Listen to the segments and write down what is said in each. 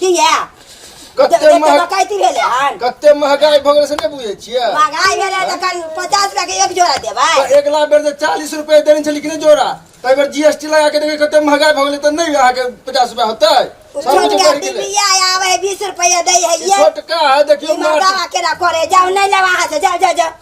किया कते जते महग डकैती भेलै हन कते महगाई भऽ गेलै से नहि बुझै छियै महगाई भेलै तऽ करीब पचास रुपया के एक जोड़ा देबै तऽ अगिला बेर जे चालीस रुपए देने छली कि नहि जोड़ा ताहि बेर जीएसटी लगा के देखियै कते महगाई भऽ गेलै तऽ नहि अहाँके पचास रुपया होतै उ सब कुछ छोटका बढ़ि गेलै बिबिया आबै है बीस रुपया दै है ई ये छोटका है देखियो ई मर्दावा केना करे जाओ नहीं लेवा हाथ से जाओ जाओ जाओ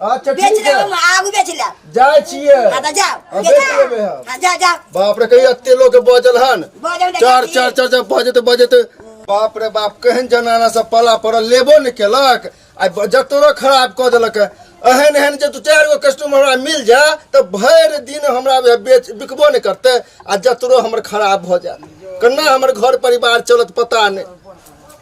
अच्छा बेच ठीक ले है हम आगू बेच ले जाए छिए हाँ तो जाओ हाँ, बेच बेच लेबे हम। हाँ जा जा बाप रे कहिया एते लोग के बजल हन बजल देखा चार छी। चार चार चार बजत बजत बाप रे बाप केहन जनाना सब पला पड़ल लेबो ने केलक आ ब- जतरो खराब कऽ देलक एहन एहन जे दू चारि गो कस्टमर हमरा मिल जा तऽ भरि दिन हमरा वएह बेच बिकबो नहि करतै आ जतरो हमर खराब भऽ जायत केना हमर घर परिवार चलत पता नहि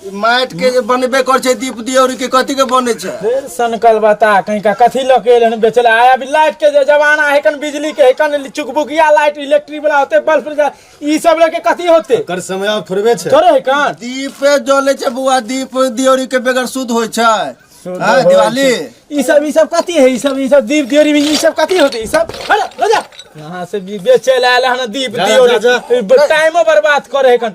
माटि के जे बनबे कर छै दीप दियोरी के कथी के बने छै फिर सनकल बता कहीं का कथी लऽ के एलन बेचल आय अभी लाइट के जे जमाना है कन बिजली के है कन चुकबुकिया लाइट इलेक्ट्रिक वाला होते बल्ब फ्रिज ई सब लेके कथी होते कर समय आब थोड़बे छै थोड़े है कन दीपे जले छै बुआ दीप दियोरी के बगैर शुद्ध होइ छै हाँ, दिवाली ई सब ई सब कथी है ई सब ई सब दीप दियोरी में ई सब कथी होते ई सब अरे ले जा यहाँ से भी बेचे लायल हन दीप जा, जा, जा। दियोरी टाइमो बर्बाद करे है कन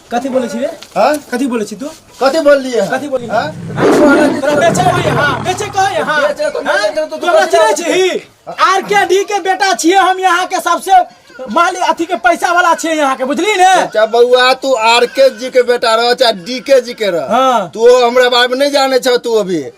कथी बोले छी रे हां कथी बोले छी तू कथी बोल लिए कथी बोली हां तोरा बेचे होय हां बेचे कहे हां बेचे तो नहीं बेचे तो तू तोरा बेचे। चिन्है छी ही आर के डी के बेटा छिए हम यहाँ के सबसे मालिक अथी के पैसा वाला छिए यहाँ के बुझली ने चाहे बउआ तू आर के जी के बेटा रह चाहे डी के जी के रह हाँ। तू हमरा बारे में नहीं जाने छह तू अभी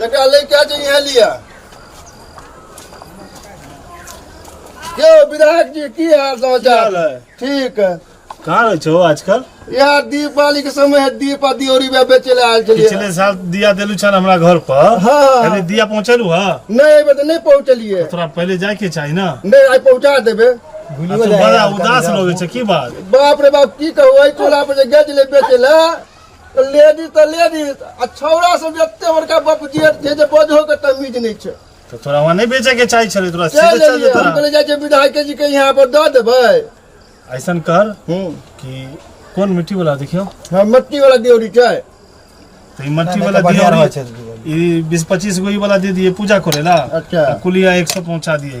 जकरा लै के छै इहे लिअ यौ विधायक जी की हाल समाचार है ठीक है कहाँ रहे छो आजकल यार दीपावली के समय है दीप आ दियोरी में बेचे ले आयल छलिए पिछले साल दिया देलू छन हमरा घर पर हाँ। अरे दिया पहुँचलू हा नहीं एबे तो नहीं पहुंचलिए तोरा पहले जाए के चाही ना नहीं आई पहुंचा देबे आ तू बड़ा उदास लोगे छे की बात बाप रे बाप की कहू आई टोला पर जे गज ले बेचे ले लेडीज तऽ लेडीज आ छौड़ा सब एते बड़का बाप जे जे जे बजहो के तमीज नहि छै तो तोरा वहाँ नहीं बेचे के चाहिए छले तोरा चल सीधे चल एलियै, हम जतरा कहलियै जाइ छै विधायके जी के यहाँ पर दऽ देबै ऐसा कर हूँ कि कौन मिट्टी वाला देखियो हाँ मट्टी वाला देवरी छै तो ई मट्टी वाला दिया रहे ई बीस पच्चीस गो ई वाला दे दिए पूजा करे ला अच्छा। कुलिया एक सौ पहुंचा दिए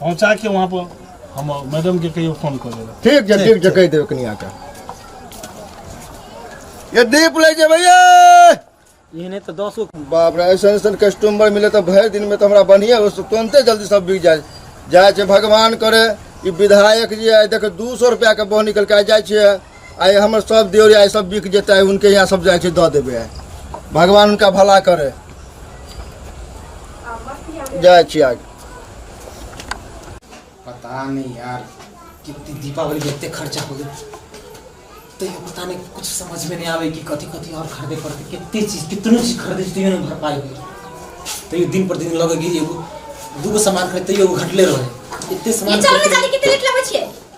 पहुँचा के वहाँ पर हम मैडम के कहियो फोन कर देगा ठीक छै ठीक छै कहि देबै कनिया के ये दीप लै जेबै ये एहने तऽ दस गो बाप रे ऐसन ऐसन कस्टमर मिले तो भरि दिन में तो हमरा बढ़िया हो तुरंते जल्दी सब बिक जाए जाए छै भगवान करे ई विधायक जी आए देखे दू सौ रुपया के बह निकल के आइ जाइ छियै आइ हमर सब देवरी आइ सब बिक जेतै आइ हुनके यहाँ सब जाइ छै दऽ देबै आइ भगवान हुनका भला करे जाइ छियै आइ पता नहीं यार कितनी दीपावली में इतने खर्चा हो गए तो ये पता नहीं कुछ समझ में नहीं आवे कि कथी कथी और खरीदे पड़ते कितनी चीज कितनी चीज खरीदे तो ये नहीं भर पाए तो ये दिन पर दिन लगेगी एगो दूगो सामान खरीदते एगो घटले रहे इतने सामान ये चलो खरीदते- निकाली कितने लेट लगे छिए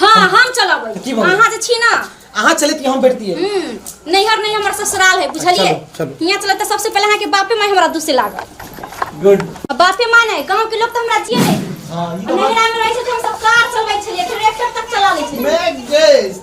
हाँ हम चलबै की बोलबै? अहाँ जे छी ना अहाँ चले कि हम बैठतिए हम्म, नैहर नहीं हमर ससुराल है बुझलिए चलो, चलो। यहाँ चले तो सबसे पहले अहाँ के बापे माई हमरा दूसे लागल गुड आ बापे माई नहीं गांव के लोग तो हमरा जिए नहीं हां ई तो बात नैहरा में रहे से तो हम सब कार चलबै छलिए ट्रैक्टर तक चला ले छलिए मैं गेस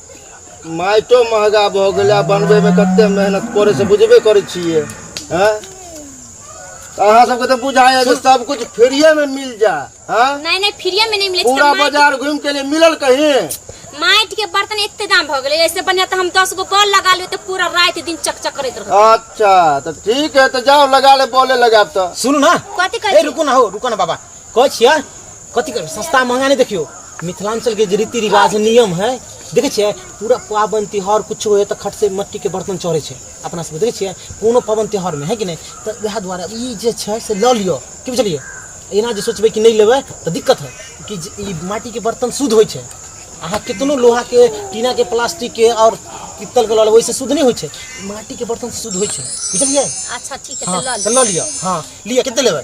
माइटो महगा भऽ गेलै आ बनबैमे कतेक मेहनत पड़ै छै बुझबे करै छियै आँय अहाँ सबके तऽ बुझाइए जे सब कुछ फ्रीए में मिल जा हाँ नहीं नहीं फ्रीए में नहीं मिले पूरा माइट- बाजार घूम के लिए मिलल कहीं माइट के बर्तन एते दाम भ गेले ऐसे बढ़िया तो हम दस गो बॉल लगा लियो तो पूरा रात दिन चकचक करैत रहो अच्छा तो ठीक है तो जाओ लगा ले बोले लगा तो सुनू ना कथी ए कहै छी रुकू ना हो रुकू ना बाबा कहै छियै कथी करबै सस्ता महंगा नहि देखियौ मिथिलाञ्चलके जे रीति रिवाज नियम है देखै छियै पूरा पाबनि तिहार किछो होइए तऽ खटसँ मट्टीके बर्तन चढ़ै छै अपना सबके देखै छियै कोनो पाबनि तिहारमे है कि नहि तऽ वएह दुआरे ई जे छै से लऽ लिअ की बुझलियै एना जे सोचबै कि नहि लेबै तऽ दिक्कत है कि जे ई माटिके बर्तन शुद्ध होइ छै अहाँ कितनो लोहाके टीनाके प्लास्टिकके आओर पित्तलके लऽ लेबै ओहिसँ शुद्ध नहि होइ छै माटिके बर्तन शुद्ध होइ छै बुझलियै अच्छा ठीक है हाँ तो लऽ लिअ तऽ लऽ लिअ हाँ लिअ कते लेबै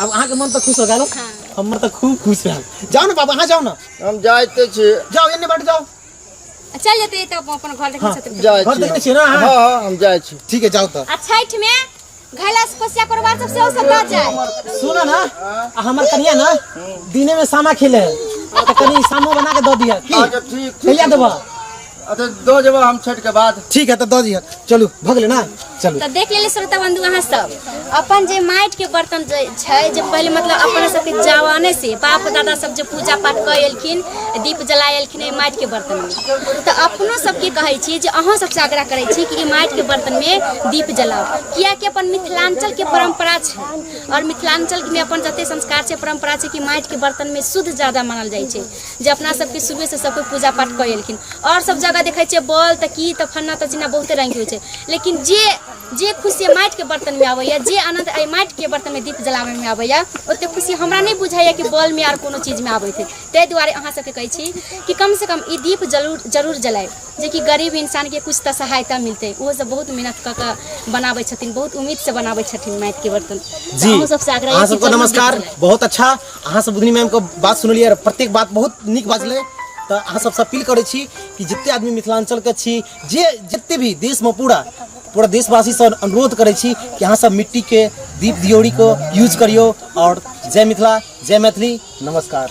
आब अहाँके मन तऽ खुश हो गेल हँ। हमर तऽ खूब खुश रहल जाउ ने बाबा अहाँ जाउ ने हम जाइते छी जाउ एन्ने बैठ जाउ आ चल जेतै तऽ अपन- अपन घर देखै हँ, छथिन जाइ घर छी देखने छियै ने अहाँ? हँ हँ हम जाइ छी ठीक है जाओ तो आ छठि मे घैला से कोसिया करबा सब सेहो सब दऽ जाय सुना ना आ हमर कनिया ना दिने में सामा खेले है तो कनी सामो बना के दो दिया की अच्छा ठीक ठीक कहिया देबा अच्छा दो जब हम छठ के बाद ठीक है तो दो जी चलू भगले ना चलू तऽ देख लेले श्रोता बंधु अहाँ सब अपन जे माटि के बर्तन जे छै जे पहिले मतलब अपना सबके जवाने से बाप दादा सब जे पूजा पाठ कऽ एलखिन दीप जला एलखिन एहि माटि के बर्तन मे तऽ अपनो सबके कहै छी जे अहाँ सबसँ आग्रह करै छी कि ई माटि के बर्तन मे दीप जलाउ कियाकि अपन मिथिलांचल के परंपरा छै आओर मिथिलांचल मे अपन जते संस्कार छै परंपरा छै कि माटि के बर्तन मे शुद्ध ज्यादा मानल जाइ छै जे अपना सबके शुरुए से सब कोइ पूजा पाठ कऽ एलखिन आओर सब जगह देखै छियै बॉल तऽ की तऽ फन्ना तऽ चिन्ना बहुते रंग के होइ छै लेकिन जे जे खुशी माटि के बर्तन में आबैया जे आनंद एहि माटि के बर्तन में दीप जलाबे में आबैया ओते खुशी हमरा नहि बुझाइया कि बॉल में आर कोनो चीज में आबैत है ताहि दुआरे अहाँ सबके कहै छी कि कम से कम ई दीप जरूर जरूर जलाय जे कि गरीब इंसान के कुछ तऽ सहायता मिलतै ओहो सब बहुत मेहनत कऽ कऽ बनाबै छथिन बहुत उम्मीद से बनाबै छथिन माटि के बर्तन जी अहूँ सबसे आग्रह अहाँ यऽ कि सबको जरूर दीप नमस्कार जलाय। बहुत अच्छा अहाँ सब बुधनी मैम के बात सुनलियै रह, प्रत्येक बात बहुत नीक बाजलै तऽ अहाँ सबसँ अपील करै छी कि जते आदमी मिथिलांचल के छी जे जते भी देश में पूरा पूरा देशवासी से अनुरोध करै छी कि अहाँ सब मिट्टी के दीप दियोरी को यूज करियो और जय मिथिला जय मैथिली नमस्कार